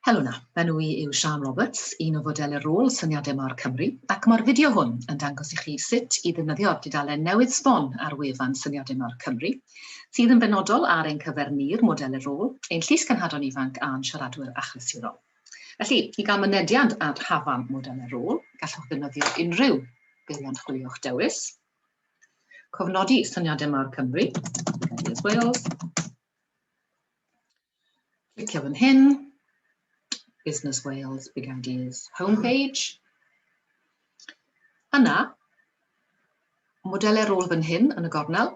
Helo 'na, fy enw i yw Siân Roberts, un o fodel y rôl Syniadau Mâr Cymru, ac mae'r fideo hwn yn dangos i chi sut i ddefnyddio'r dudalen newydd sbon ar wefan Syniadau Mâr Cymru, sydd yn benodol ar ein cyfer ni'r model y rôl, ein llys cenhadon ifanc a'n siaradwyr achlysurol. Felly, i gael mynediad at hafan model y rôl, gallwch ddefnyddio unrhyw beiriant chwilio'ch dewis. Cofnodi Syniadau Mâr Cymru, Wales, Clicio fan hyn, Business Wales Big Ideas homepage. Yna, modelau rôl fan hyn yn y gornel,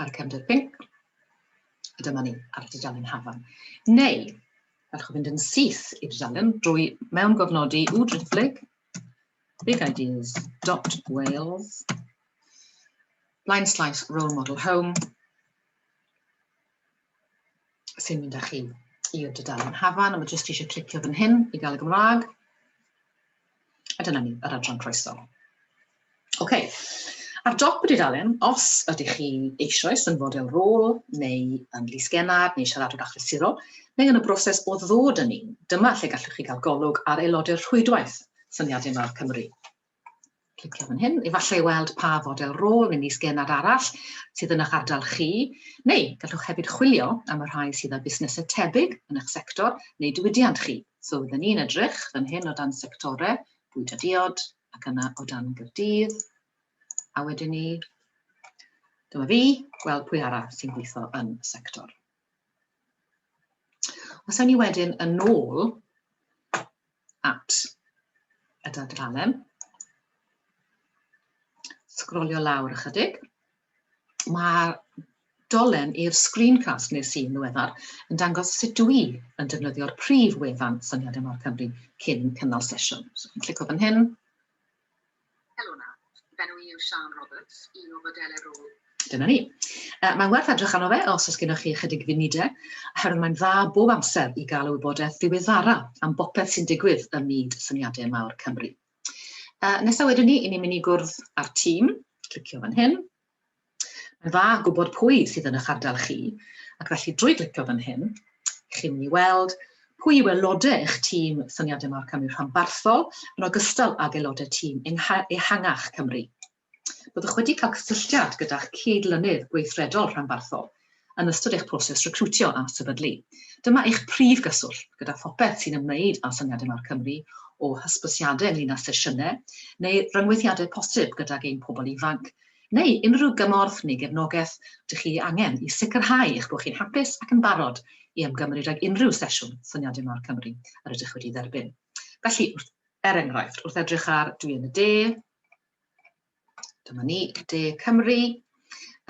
a'r cefnder pink, a dyma ni ar y dudalen hafan. Neu, allwch fynd yn syth i'r dudalen drwy mewn gofnodi u driphlyg bigideas.wales blaen slaes role model home sy'n mynd â chi i'r dudalen hafan, a mae jyst eisiau clicio fan hyn i gael y Gymraeg. A dyna ni, yr adran croeso. Oce, okay. ar dop y dudalen, os ydych chi eisoes yn fodel rôl, neu yn lys genad, neu siaradwr achlysurol, neu yn y broses o ddod yn un, dyma lle gallwch chi gael golwg ar aelodau'r rhwydwaith syniadau mawr Cymru. clicio fan hyn, efallai weld pa fodel rôl neu is-genad arall sydd yn eich ardal chi, neu gallwch hefyd chwilio am y rhai sydd â busnesau tebyg yn eich sector neu diwydiant chi. So, rydyn ni'n edrych fan hyn o dan sectorau, bwyd a diod, ac yna o dan gyrdydd, a wedyn ni, dyma fi, gweld pwy arall sy'n gweithio yn y sector. Os ewn ni wedyn yn ôl at y dadralen, sgrolio lawr ychydig, mae dolen i'r screencast nes i'n ddiweddar yn dangos sut dw i yn defnyddio'r prif wefan syniadau mawr Cymru cyn cynnal sesiwn. So, yn clico fan hyn. Helona. Fy enw i yw Siân Roberts, un o fodelau rôl. Dyna ni. Uh, mae'n werth edrych arno fe os oes gennych chi ychydig funudau, oherwydd mae'n dda bob amser i gael y wybodaeth ddiweddara am bopeth sy'n digwydd ym myd syniadau mawr Cymru. Uh, nesaf wedyn ni, i ni'n mynd i gwrdd â'r tîm, clicio fan hyn, Mae'n dda gwybod pwy sydd yn eich ardal chi, ac felly drwy glicio fan hyn, chi'n mynd i weld pwy yw aelodau eich tîm Syniadau Marc Cymru rhanbarthol, yn ogystal ag aelodau tîm ehangach Cymru. Byddwch wedi cael cysylltiad gyda'ch cyd-lynydd gweithredol rhanbarthol, yn ystod eich proses recriwtio a sefydlu. Dyma eich prif gyswllt gyda phopeth sy'n ymwneud â Syniadau Mawr Cymru, o hysbysiadau ynglŷn â sesiynau neu ryngweithiadau posib gydag ein pobl ifanc, neu unrhyw gymorth neu gefnogaeth dych chi ei angen i sicrhau eich bod chi'n hapus ac yn barod i ymgymryd ag unrhyw sesiwn Syniadau Mawr Cymru yr ydych wedi ei dderbyn. Felly, wrth, er enghraifft, wrth edrych ar Dwi yn y De, Dyma ni, De Cymru,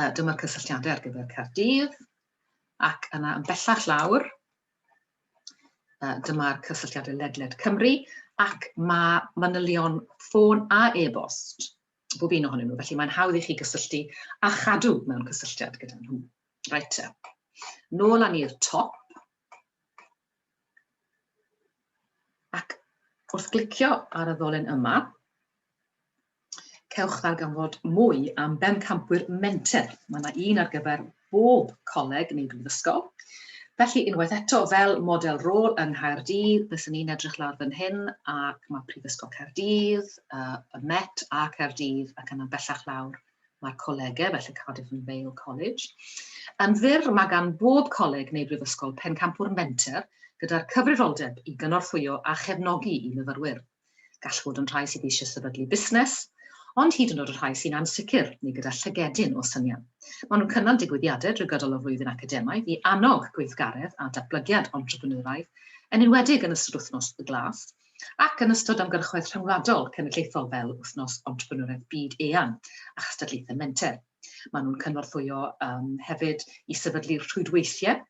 uh, dyma'r cysylltiadau ar gyfer Caerdydd, ac yna yn bellach lawr, uh, dyma'r cysylltiadau ledled Cymru, ac mae manylion ffôn a e-bost bob un ohonyn nhw, felly mae'n hawdd i chi gysylltu a chadw mewn cysylltiad gyda nhw. Right, nôl â ni'r top, Ac wrth glicio ar y ddolen yma, cewch ddarganfod mwy am bencampwyr menter. Mae yna un ar gyfer bob coleg neu brifysgol. Felly, unwaith eto, fel model rôl yng Nghaerdydd, byswn i'n edrych lawr fan hyn, ac mae Prifysgol Caerdydd, uh, y Met a Caerdydd, ac yna bellach lawr Mae colegau, fel y Cardiff and Vale College, yn fyr, mae gan bob coleg neu brifysgol pencampwr menter gyda'r cyfrifoldeb i gynorthwyo a chefnogi i myfyrwyr. Gall fod yn rhai sydd eisiau sefydlu busnes, ond hyd yn oed y rhai sy'n ansicr neu gyda llygedyn o syniad. Maen nhw'n cynnal digwyddiadau drwy gydol y flwyddyn academaidd i annog gweithgaredd a datblygiad entrepreneuraidd, yn enwedig yn ystod Wythnos y Glas, ac yn ystod ymgyrchoedd rhyngwladol cenedlaethol fel Wythnos Entrepreneuraidd Byd Eang a chystadlaethau menter. Maen nhw'n cynorthwyo um, hefyd i sefydlu rhwydweithiau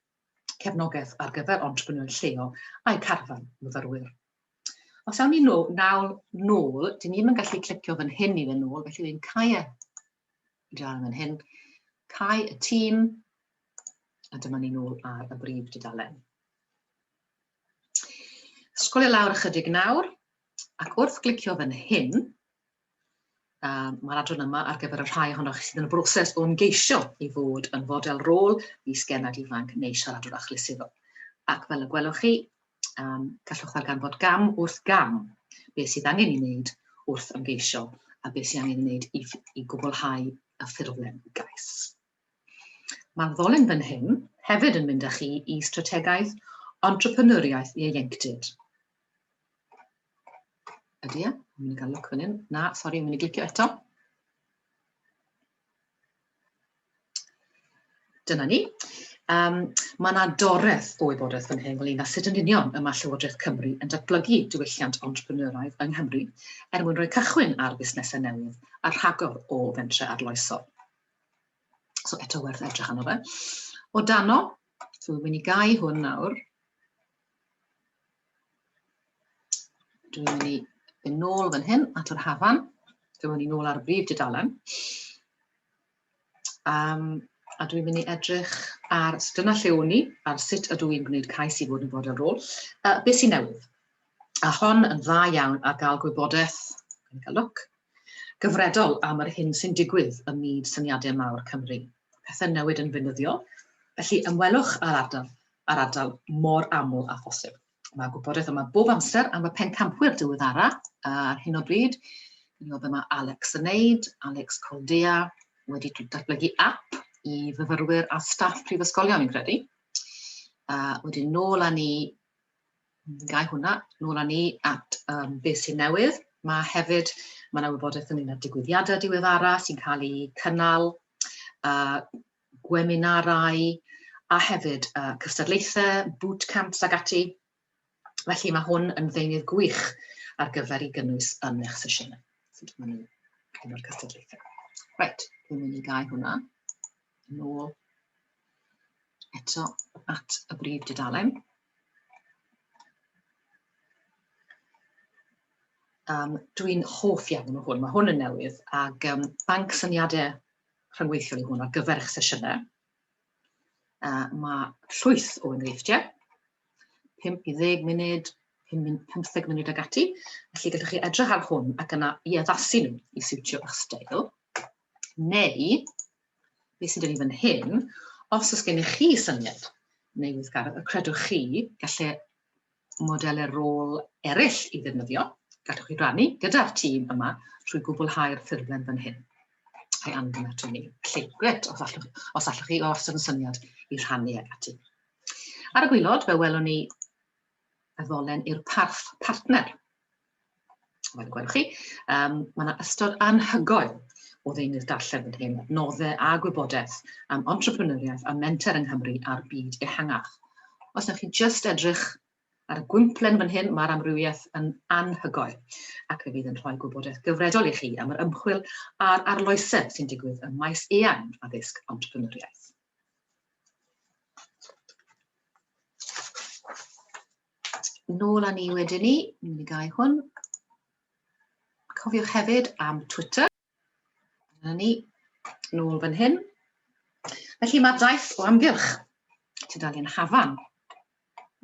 cefnogaeth ar gyfer entrepreneur lleol a'i carfan myfyrwyr. Os awn ni nôl, nawl nôl, dyn ni'n yn gallu clicio fan hyn i fe nôl, felly fi'n cau e. Dal yn hyn. Cau y tîm. A dyma ni'n ôl ar y brif dudalen. Sgolio lawr ychydig nawr, ac wrth glicio fan hyn, um, mae'r adran yma ar gyfer y rhai ohonoch chi sydd yn y broses o'n geisio i fod yn fodel rôl i sgenad ifanc neu siaradwr achlysurol. Ac fel y gwelwch chi, Um, gallwch ddarganfod gam wrth gam beth sydd angen ei wneud wrth ymgeisio a beth sydd angen ei wneud i, i gwblhau y ffurflen gais. Mae'r ddolen fan hyn hefyd yn mynd â chi i strategaeth entrepreneuriaeth ieuenctid. Ydy e? Mae'n mynd i gael look fan hyn. Na, sori, mae'n mynd i glicio eto. Dyna ni. Um, mae yna doreth o wybodaeth fan hyn ynglyn â sut yn union y mae Llywodraeth Cymru yn datblygu diwylliant entrepreneuraidd yng Nghymru er mwyn rhoi cychwyn ar fusnesau newydd a rhagor o fentrau arloesol. So eto werth edrych arno fe. O dano, so wy'n mynd i gau hwn nawr. Dwi'n mynd i yn nôl fan hyn at yr hafan. Dwi'n mynd i nôl ar y brif dudalen. Um, a dwi'n mynd i edrych ar dyna lle o'n i, ar sut ydw i'n gwneud cais i fod yn fod ar ôl. Uh, beth sy'n newydd? A hon yn dda iawn ar gael gwybodaeth, yn cael look, gyfredol am yr hyn sy'n digwydd ym myd syniadau mawr Cymru. Pethau'n newid yn fynyddiol, felly ymwelwch â'r ardal a'r ardal mor aml â phosib. Mae gwybodaeth yma bob amser am y pencampwyr diweddara ar hyn o bryd. Dwi'n meddwl be mae Alex yn neud, Alex Coldea, wedi datblygu app i fyfyrwyr a staff prifysgolion, fi'n credu. A wedyn nôl â ni Gau hwnna, nôl â ni at um, beth sy'n newydd. Mae hefyd, mae yna wybodaeth ynglyn â digwyddiadau diweddara sy'n cael eu cynnal, uh, gweminarau, a hefyd uh, cystadlaethau, bootcamps ac ati. Felly mae hwn yn ddeunydd gwych ar gyfer i gynnwys yn eich sesiynau. Sut maen nhw'n hyn o'r cystadlaethau. Reit, dwi'n mynd i gael hwnna yn ôl eto at y brif dudalen. Um, Dwi'n hoff iawn o hwn, mae hwn yn newydd, ac um, banc syniadau rhyngweithiol i hwn ar gyfer eich sesiynau. Uh, mae llwyth o enghreifftiau, 5 i 10 munud, 15 munud ag ati, felly gallwch chi edrych ar hwn ac yna i addasu nhw i siwtio eich stael, neu Beth sydd 'da ni fan hyn, os oes gennych chi syniad neu weithgaredd y credwch chi gallu modelau rôl eraill i ddefnyddio, gallwch chi rannu gyda'r tîm yma trwy gwblhau'r ffurflen fan hyn. A'i anfon ato ni. Felly, gret, os allwch, os allwch chi os yn syniad i rhannu ag ati. Ar y gwylod, fe welwn ni y ddolen i'r parth partner. Mae'n gweld chi, um, mae yna ystod anhygoel o ddeunydd darllen yn hyn, nodde a gwybodaeth am entrepreneuriaeth a menter yng Nghymru a'r byd ehangach. Os ydych chi'n just edrych ar y gwymplen fan hyn, mae'r amrywiaeth yn anhygoel, ac fe fydd yn rhoi gwybodaeth gyfredol i chi am yr ymchwil a'r arloesedd sy'n digwydd ym maes eang addysg entrepreneuriaeth. Nôl â ni wedyn ni, ni'n mynd i gael hwn. Cofiwch hefyd am Twitter. Dyna ni, nôl fan hyn. Felly mae daith o amgylch tudalen Hafan,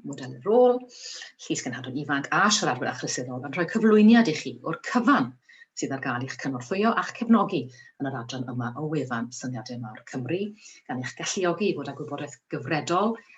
model y rôl, llys gynhadon ifanc a siaradwyr achlysurol yn rhoi cyflwyniad i chi o'r cyfan sydd ar gael i'ch cynorthwyo a'ch cefnogi yn yr adran yma o wefan Syniadau Mawr Cymru, gan eich galluogi i fod â gwybodaeth gyfredol